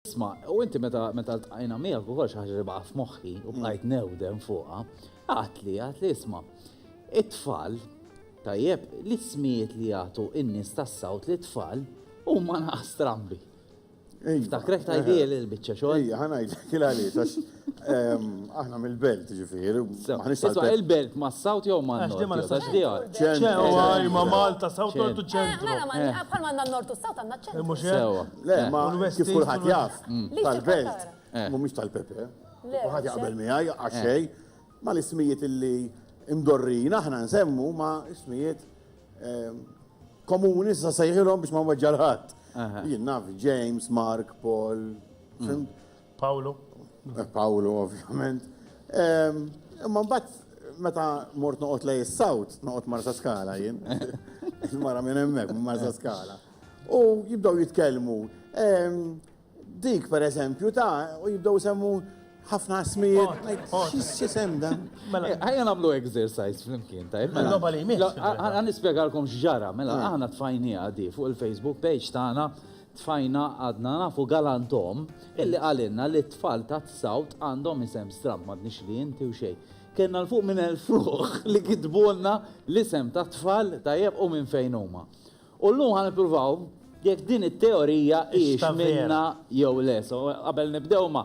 Isma, u inti meta meta ltqajna miegħek ukoll xi ħaġa li baqa' f'moħħi u bqajt mm. newdem fuqha, għatli għatli isma' it-tfal tajjeb l-ismijiet li jagħtu in-nies tas-sawt li tfal huma naqas strambi. Ftakrek tajdi l-biċċa xogħol. Ija, ħanajlek il-għaliex Aħna mill-belt, ġifieri. Isma' il-belt mas-South jew man-Nord? Għax ma nistax nifhimha. Ċentru. Ma' Malta, South, Nord u ċentru. Mela, mela, bħal m'għandna n-Nord u s-South għandna ċentru. Mhux hekk? Sewwa. Le, ma kif kulħadd jaf, tal-belt mhumiex tal-Pepe. Le. Kulħadd jaqbel miegħi għax xejn. Ma l-ismijiet li mdorrijin aħna nsemmu huma ismijiet komuni sa sejħilhom biex ma nweġġa' l-ħadd. Jien naf James, Mark, Paul, fimt? Pawlu? Pawlu ovvjament. Imma mbagħad meta mort noqgħod lej is-South, noqgħod Marsa Skala jien. Il-mara minn hemmhekk, minn Marsa Skala. U jibdew jitkellmu. Dik per eżempju ta' u jibdew semmu ħafna smijiet. X'isem dan? Mela, ħajja nagħmlu exercise flimkien ta' mela. Loba li jmiss. Ħa nispjegalkom x'ġara, mela aħna tfajnija di fuq il-Facebook page tagħna Tfajna għadna nafu galantom illi qalilna li t-tfal tat-South għandhom isem stramb, m'għadniex li inti u xejn. Kellna 'l fuq minn elf ruħ li kitbulna l-isem tat-tfal tajjeb u minn fejn huma. U llum ħa nippruvaw jekk din it-teorija hijiex minnha jew le. So, qabel nibdew ma.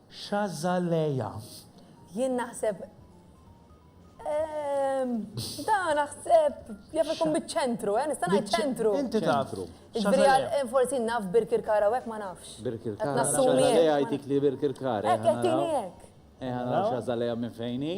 Xazaleah. Jien naħseb, ehm, da naħseb jaf ikun biċ-ċentru, eh, nista' ngħid ċentru. Inti taf. Ċentru. Forsi naf Birkirkar hawnhekk ma nafx. Birkirkar. Xazaleah jtik li Birkirkar. Hekk qed tieni hekk. Eh, naraw Xazaleah minn fejn hi.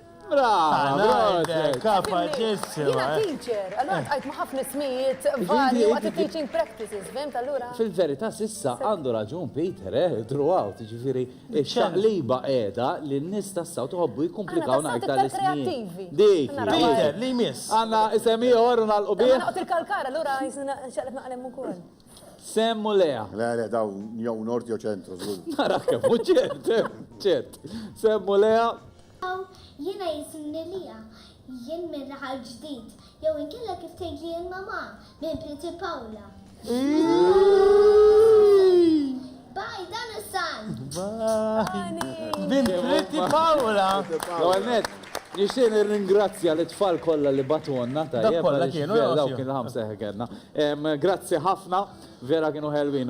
Fil-verità s'issa għandu raġun Peter, eh, throughout, ġifieri x-xaqliba qiegħda li n-nies tas-South iħobbu jikkumplikawna aktar l-ismijiet. Dik hi. Peter, li jmiss. Għandna isem ieħor u nagħlqu bih? Sem u Lea. Le, le, daw jew nord jew ċentru, żgur. Nara kemm u ċert, ċert. Sem u Lea. Jiena jisimni Lea, jien minn raħal ġdid, jew inkella kif tgħidli l-mamà, minn Priti Pawla. Bye, dan hu s-san! Bye! Bint Pretty Paola! L-ewwel nett, nixtieq nirringrazzja lit-tfal kollha li bagħtulna, tajjeb, għaliex vera dawk kienu l-ħamsa li kellna. Grazzi ħafna, vera kienu ħelwin.